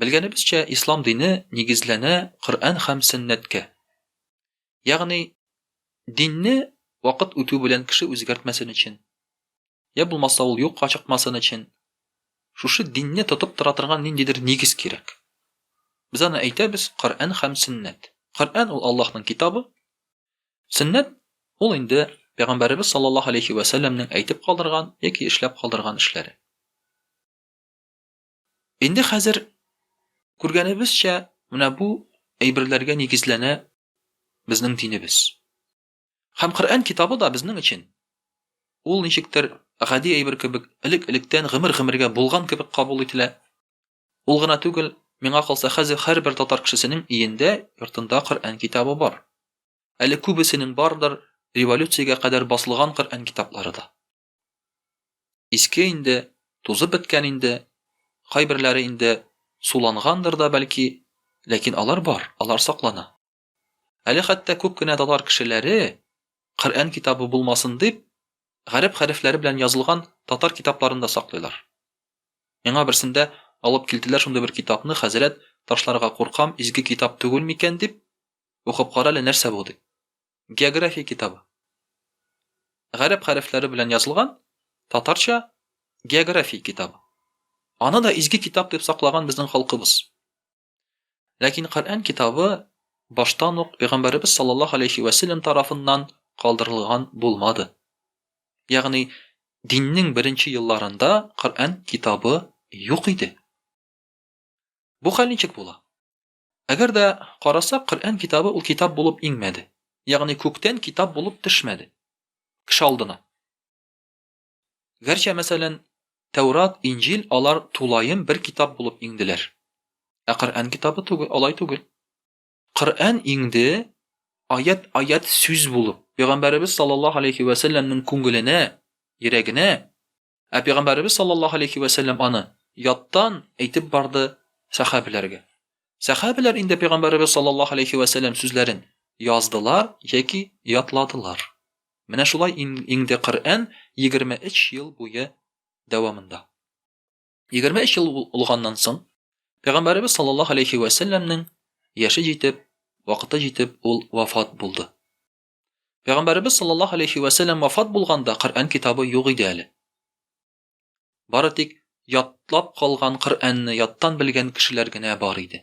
Белгәнебезчә, ислам дине нигезләнә Коръән һәм сөннәткә. Ягъни, динне вакыт үтү белән кеше үзгәртмәсен өчен, я булмаса ул юкка чыкмасын өчен, шушы динне тотып тора торган ниндидер нигез кирәк. Без аны әйтәбез Коръән һәм сөннәт. Коръән ул Аллаһның китабы, сөннәт ул инде Пәйгамбәребез саллаллаһу алейхи вә сәлләмнең әйтеп калдырган яки эшләп калдырган эшләре. Инде хәзер күргәнебезчә, менә бу әйберләргә нигезләнә безнең динебез. Һәм Коръән китабы да безнең өчен ул ничектер гади әйбер кебек элек-электән гомер-гомергә булган кебек кабул ителә. Ул гына түгел, миңа калса хәзер һәрбер татар кешесенең өендә, йортында Коръән китабы бар. Әле күбесенең бардыр, революциягә кадәр басылган Коръән китаплары да. Иске инде, тузып беткән инде, кайберләре инде сулангандыр да бәлки, ләкин алар бар, алар саклана. Әле хәтта күп кенә татар кешеләре, Коръән китабы булмасын дип, гарәп хәрефләре белән язылган татар китапларын да саклыйлар. Миңа берсендә алып килделәр шундый бер китапны, хәзрәт, ташларга куркам, изге китап түгел микән дип, укып кара әле нәрсә бу дип. география китабы. Гарәп хәрефләре белән язылган татарча география китабы. Аны да изге китап дип саклаган безнең халкыбыз. Ләкин Коръән китабы баштан ук пәйгамбәребез саллаллаһу алейхи ва саллям тарафыннан калдырылган булмады. Ягъни диннең беренче елларында Коръән китабы юк иде. Бу хәл ничек була? Әгәр дә карасак, Коръән китабы ул китап булып иңмәде. Ягъни күктән китап булып төшмәде кеше алдына. Гәрчә, мәсәлән, Тәүрат, Инҗил, алар тулаем бер китап булып иңделәр. Ә Коръән китабы түгел, алай түгел. Коръән иңде аять-аять сүз булып, пәйгамбәребез саллаллаһу алейхи вә сәлләмнең күңеленә, йөрәгенә, Ә пәйгамбәребез саллаллаһу алейһи вә сәлләм аны яттан әйтеп барды сәхабәләргә. Сәхабәләр инде пәйгамбәребез саллаллаһу алейһи вә сәлләм сүзләрен яздылар яки ятладылар. Менә шулай иңде Коръән 23 ел буе дәвамында. 23 ел узганнан соң пәйгамбәребез саллаллаһу алейһи вә сәлләмнең яше җитеп, вакыты җитеп, ул вафат булды. Пәйгамбәребез саллаллаһу алейхи вә сәлләм вафат булганда Коръән китабы юк иде әле. Бары тик ятлап калган Коръәнне яттан белгән кешеләр генә бар иде.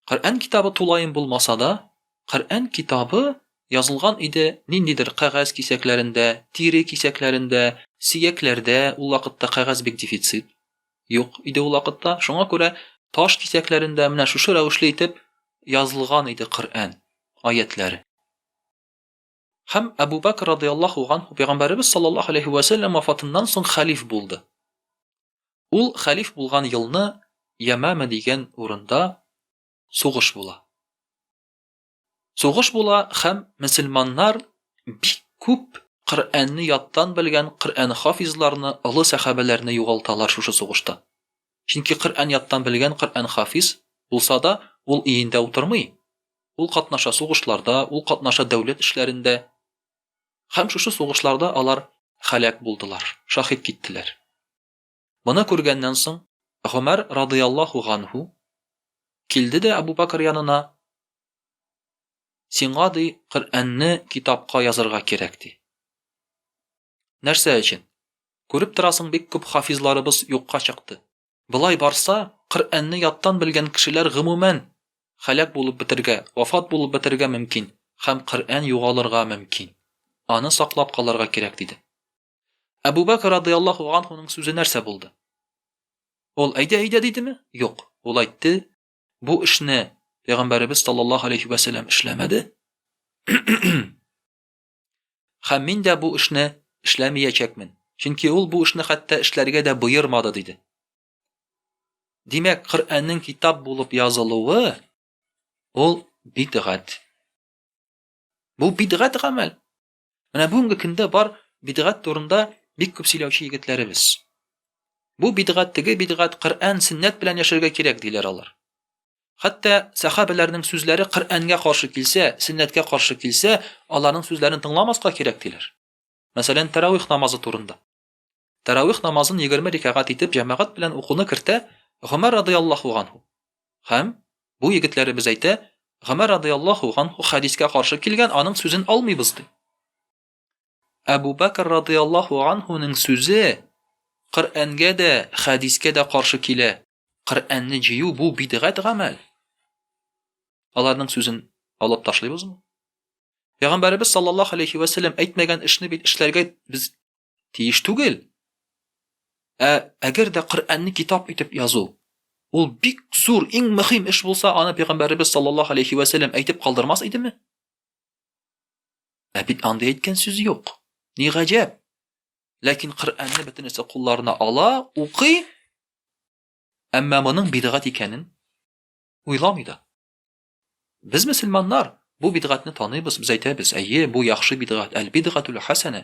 Коръән китабы тулаем булмаса да, Коръән китабы язылган иде ниндидер кәгазь кисәкләрендә, тире кисәкләрендә, сөякләрдә, ул вакытта кәгазь бик дефицит. Юк иде ул вакытта, шуңа күрә таш кисәкләрендә менә шушы рәвешле итеп язылган иде Коръән аятьләре. Һәм Әбу Бәкр радыяллаһу ганһу пәйгамбәребез саллаллаһу алейһи вә сәлләм вафатыннан соң хәлиф булды. Ул хәлиф булган елны Ямама дигән урында сугыш була. Сугыш була һәм мөселманнар бик күп Коръәнне яттан белгән Коръән хафизларны, олы сәхабәләрне югалталар шушы сугышта. Чөнки Коръән яттан белгән Коръән хафиз булса да, ул өендә утырмый, ул катнаша сугышларда, ул катнаша дәүләт эшләрендә. Һәм шушы сугышларда алар һәлак булдылар, шаһит киттеләр. Моны күргәннән соң, Гомәр радыяллаһу ганһу килде дә Әбу Бәкер янына, Сиңа, ди, Коръәнне китапка язырга кирәк, ди. Нәрсә өчен? Күреп торасың, бик күп хафизларыбыз юкка чыкты. Болай барса, Коръәнне яттан белгән кешеләр гомумән һәлак булып бетергә, вафат булып бетергә мөмкин һәм Коръән югалырга мөмкин. Аны саклап калырга кирәк, диде. Әбу Бәкер радыяллаху анхуның сүзе нәрсә булды? Ул әйдә, әйдә дидеме? Юк. Ул әйтте, бу эшне пәйгамбәребез саллаллаһу алейхи ва сәлләм эшләмәде. Хәм мин дә бу эшне эшләмиячәкмен. Чөнки ул бу эшне хәтта эшләргә дә боермады диде. Димәк, Коръәннең китап булып язылуы ул бидгат. Бу бидгат гамәл. Менә бүгенге көндә бар бидгат турында бик күп сөйләүче егетләребез. Бу бидгат, теге бидгат, Коръән, сөннәт белән яшәргә кирәк диләр алар. Хәтта сахабәләрнең сүзләре Коръәнгә каршы килсә, сөннәткә каршы килсә, аларның сүзләрен тыңламаска кирәк диләр. Мәсәлән, тәравих намазы турында. Тәравих намазын егерме рикәгать итеп җәмәгать белән укуны кертә Гомәр радыяллаһу ганһу. Һәм, бу егетләребез әйтә, Гомәр радыяллаһу ганһу хәдискә каршы килгән, аның сүзен алмыйбыз, ди. Әбу Бәкер радыяллаһу ганһуның сүзе Коръәнгә дә, хәдискә дә каршы килә. Коръәнне җыю бу бидгать гамәл. Аларның сүзен алып ташлыйбызмы? Пәйгамбәребез саллаллаһу алейһи вә сәлләм әйтмәгән эшне бит эшләргә без тиеш түгел. Ә әгәр дә Коръәнне китап итеп язу, ул бик зур, иң мөһим эш булса, аны пәйгамбәребез саллаллаһу алейхи ва сәлләм әйтеп калдырмас идеме? Ә бит андый әйткән сүз юк. Ни гаҗәп. Ләкин Коръәнне бөтенесе кулларына ала, укый, әмма моның бидгат икәнен уйламый да. Без мөселманнар бу бидгатьне таныйбыз, без әйтәбез, әйе, бу яхшы бидгат, әл-бидгатул хәсәнә.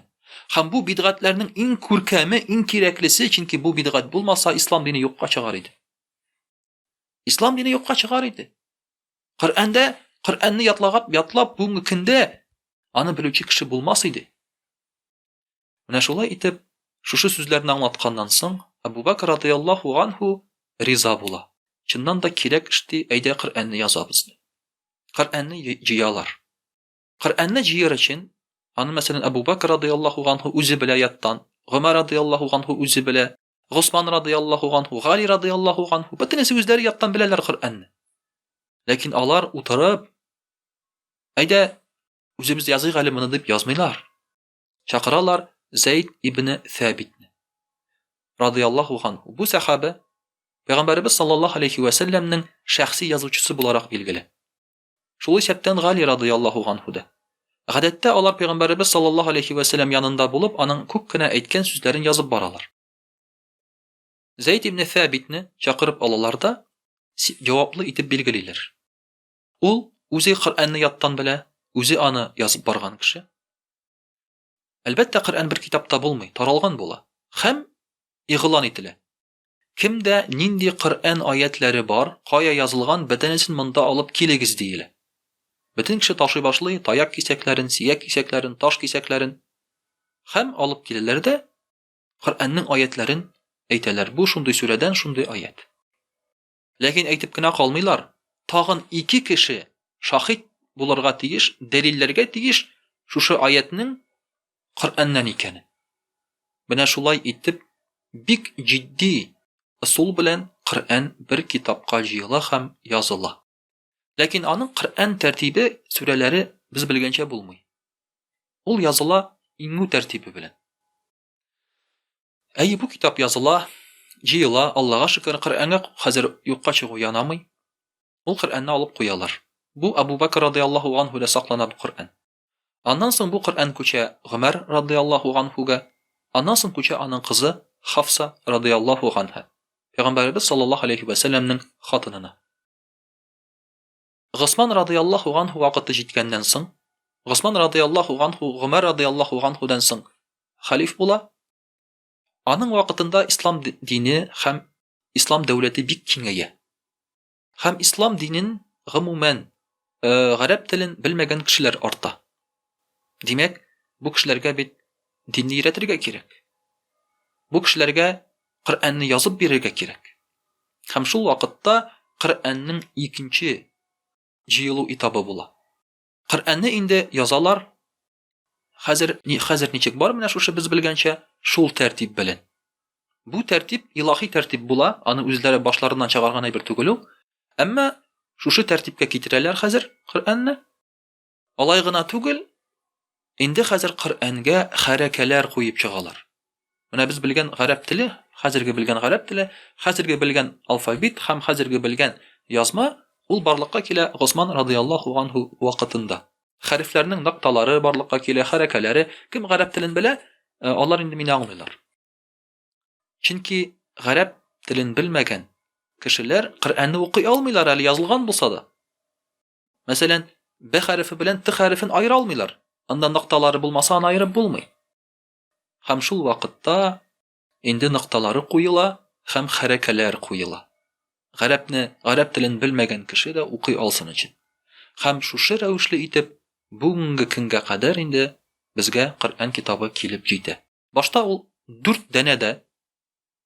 Һәм бу бидгатләрнең иң күркәме, иң кирәклесе, чөнки бу бидгат булмаса, ислам дине юкка чыгар иде. Ислам дине юкка чыгар иде. Коръәндә, Коръәнне ятлагап, ятлап бүгенге көндә аны белүче кеше булмас иде. Менә шулай итеп, шушы сүзләрне аңлатканнан соң, Әбубәкер радыяллаһу ганһу риза була. Чыннан да кирәк эшти, әйдә Коръәнне язабыз ди. Коръәнне җыялар. Коръәнне җыяр өчен, аны мәсәлән Әбубәкер радыяллаһу ганһу үзе белә яттан, Гомәр радыяллаһу ганһу үзе белә, Госман радыяллаһу ганһу, Гали радыяллаһу ганһу, бөтенесе үзләре яттан беләләр Коръәнне. Ләкин алар утырып, әйдә Үзебез языйк әле моны дип язмыйлар. Чакыралар Зәйд ибне Сәбитне. Радияллаху хан. Бу сәхабә Пәйгамбәребез саллаллаһу алейхи ва сәлләмнең шәхси язучысы буларак билгеле. Шул исәптән Гали радияллаху анху да. Гадәттә алар Пәйгамбәребез саллаллаһу алейхи ва сәлләм янында булып, аның күп кенә әйткән сүзләрен язып баралар. Зәйд ибн Сәбитне чакырып алалар да җаваплы итеп билгелиләр. Ул үзе Коръәнне яттан белә, үзе аны язып барган кеше. Әлбәттә, Коръән бер китапта булмый, таралган була һәм игълан ителә. Кемдә нинди Коръән аятьләре бар, кая язылган, бөтенесен монда алып килегез, диелә. Бөтен кеше ташый башлый, таяк кисәкләрен, сөяк кисәкләрен, таш кисәкләрен. Һәм алып киләләр дә Коръәннең аятьләрен әйтәләр. Бу шундый сүрәдән шундый аять. Ләкин әйтеп кенә калмыйлар, тагын ике кеше шаһит булырга тиеш, дәлилләргә тиеш шушы аятьнең Коръәннән икәнен. Менә шулай итеп, бик җитди ысул белән Коръән бер китапка җыела һәм языла. Ләкин аның Коръән тәртибе, сүрәләре без белгәнчә булмый. Ул языла иңү тәртибе белән. Әйе, бу китап языла, җыела, Аллага шөкер, Коръәнгә хәзер юкка чыгу янамый. Ул Коръәнне алып куялар. Бу Абу Бәкр радиаллаһу анһүдә саклана бу Коръән. Аннан соң бу Коръән күчә Гомәр радиаллаһу анһүгә, аннан соң күчә аның кызы Хафса радиаллаһу анһа, пәйгамбәребез саллаллаһу алейһи вә сәлләмнең хатынына. Госман радыяллаһу ганһу вакыты җиткәннән соң, Госман радыяллаһу ганһу Гомәр радыяллаһу ганһудан соң хәлиф була. Аның вакытында ислам дине һәм ислам дәүләте бик киңәя. Һәм ислам динен гомумән гарәп телен белмәгән кешеләр арта. Димәк, бу кешеләргә бит динне өйрәтергә кирәк. Бу кешеләргә Коръәнне язып бирергә кирәк. Һәм шул вакытта Коръәннең икенче җыелу этабы була. Коръәнне инде язалар, хәзер, ни, хәзер ничек бар менә шушы без белгәнчә, шул тәртип белән. Бу тәртип илаһи тәртип була, аны үзләре башларыннан чыгарган әйбер түгел ул. Әмма шушы тәртипкә китерәләр хәзер Коръәнне. Алай гына түгел, инде хәзер Коръәнгә хәрәкәләр куеп чыгалар. Менә без белгән гарәп теле, хәзерге белгән гарәп теле, хәзерге белгән алфавит һәм хәзерге белгән язма, ул барлыкка килә Госман радыяллаһу анһу вакытында. Хәрефләрнең нокталары барлыкка килә, хәрәкәләре. Кем гарәп телен белә, алар инде мине аңлыйлар. Чөнки гарәп телен белмәгән кешеләр Коръәнне укый алмыйлар әле, язылган булса да. Мәсәлән, Б хәрефе белән Т хәрефен аера алмыйлар. Анда нокталары булмаса, аны аерып булмый. Һәм шул вакытта инде нокталары куела һәм хәрәкәләр куела. Гарәпне, гарәп телен белмәгән кеше дә укый алсын өчен. Һәм шушы рәвешле итеп бүгенге көнгә кадәр инде безгә Коръән китабы килеп җитә. Башта ул дүрт дәнә дә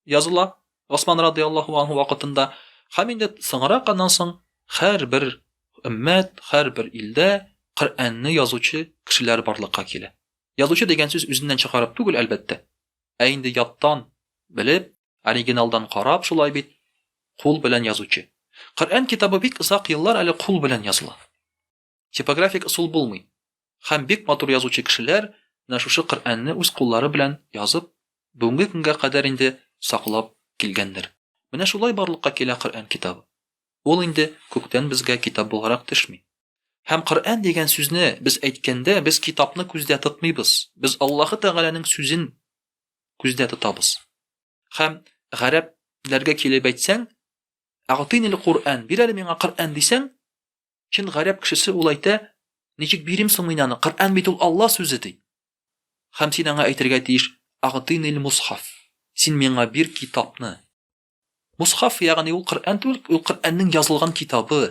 языла Госман радыяллаһу анһу вакытында һәм инде соңрак аннан соң һәрбер өммәт, һәрбер илдә Коръәнне язучы кешеләр барлыкка килә. Язучы дигән сүз үзеннән чыгарып түгел, әлбәттә, ә инде яттан белеп, оригиналдан карап, шулай бит, кул белән язучы. Коръән китабы бик озак еллар әле кул белән языла. Типографик ысул булмый. Хәм бик матур язучы кешеләр менә шушы Коръәнне үз куллары белән язып, бүгенге көнгә кадәр инде саклап килгәндер. Менә шулай барлыкка килә Коръән китабы. Ул инде күктән безгә китап булгарак төшми. Һәм Коръән дигән сүзне без әйткәндә, без китапны күздә тотмыйбыз, без Аллаһы Тәгаләнең сүзен күздә тотабыз. Хәм гарәп ләргә килеп әйтсәң, Әгътинил Коръән, бир әле миңа Коръән дисәң, Чын гарәп кешесе ул әйтә, Ничек бирим соң мин аны? Коръән бит ул Алла сүзе, ди. Һәм син аңа әйтергә тиеш, Агътинил мусхаф. Син миңа бир китапны. Мусхаф, ягъни ул Коръән түгел, ул Коръәннең язылган китабы.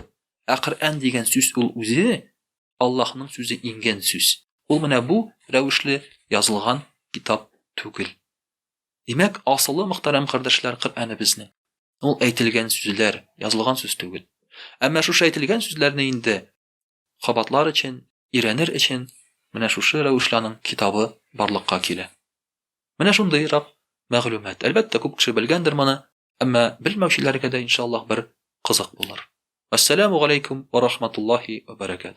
Ә Коръән дигән сүз ул үзе Аллаһның сүзе иңгән сүз. Ул менә бу рәвешле язылган китап түгел. Димәк, асылы, мөхтәрәм кардәшләр, Коръәне безнең. Ул әйтелгән сүзләр, язылган сүз түгел. Әмма шушы әйтелгән сүзләрне инде кабатлар өчен, өйрәнер өчен менә шушы рәвешле аның китабы барлыкка килә. Менә шундыйрак мәгълүмат. Әлбәттә, күп кеше белгәндер моны, әмма белмәүчеләргә дә, иншаллаһ, бер кызык булыр. Ассаламу галәйкүм ва рахматуллаһи ва баракату.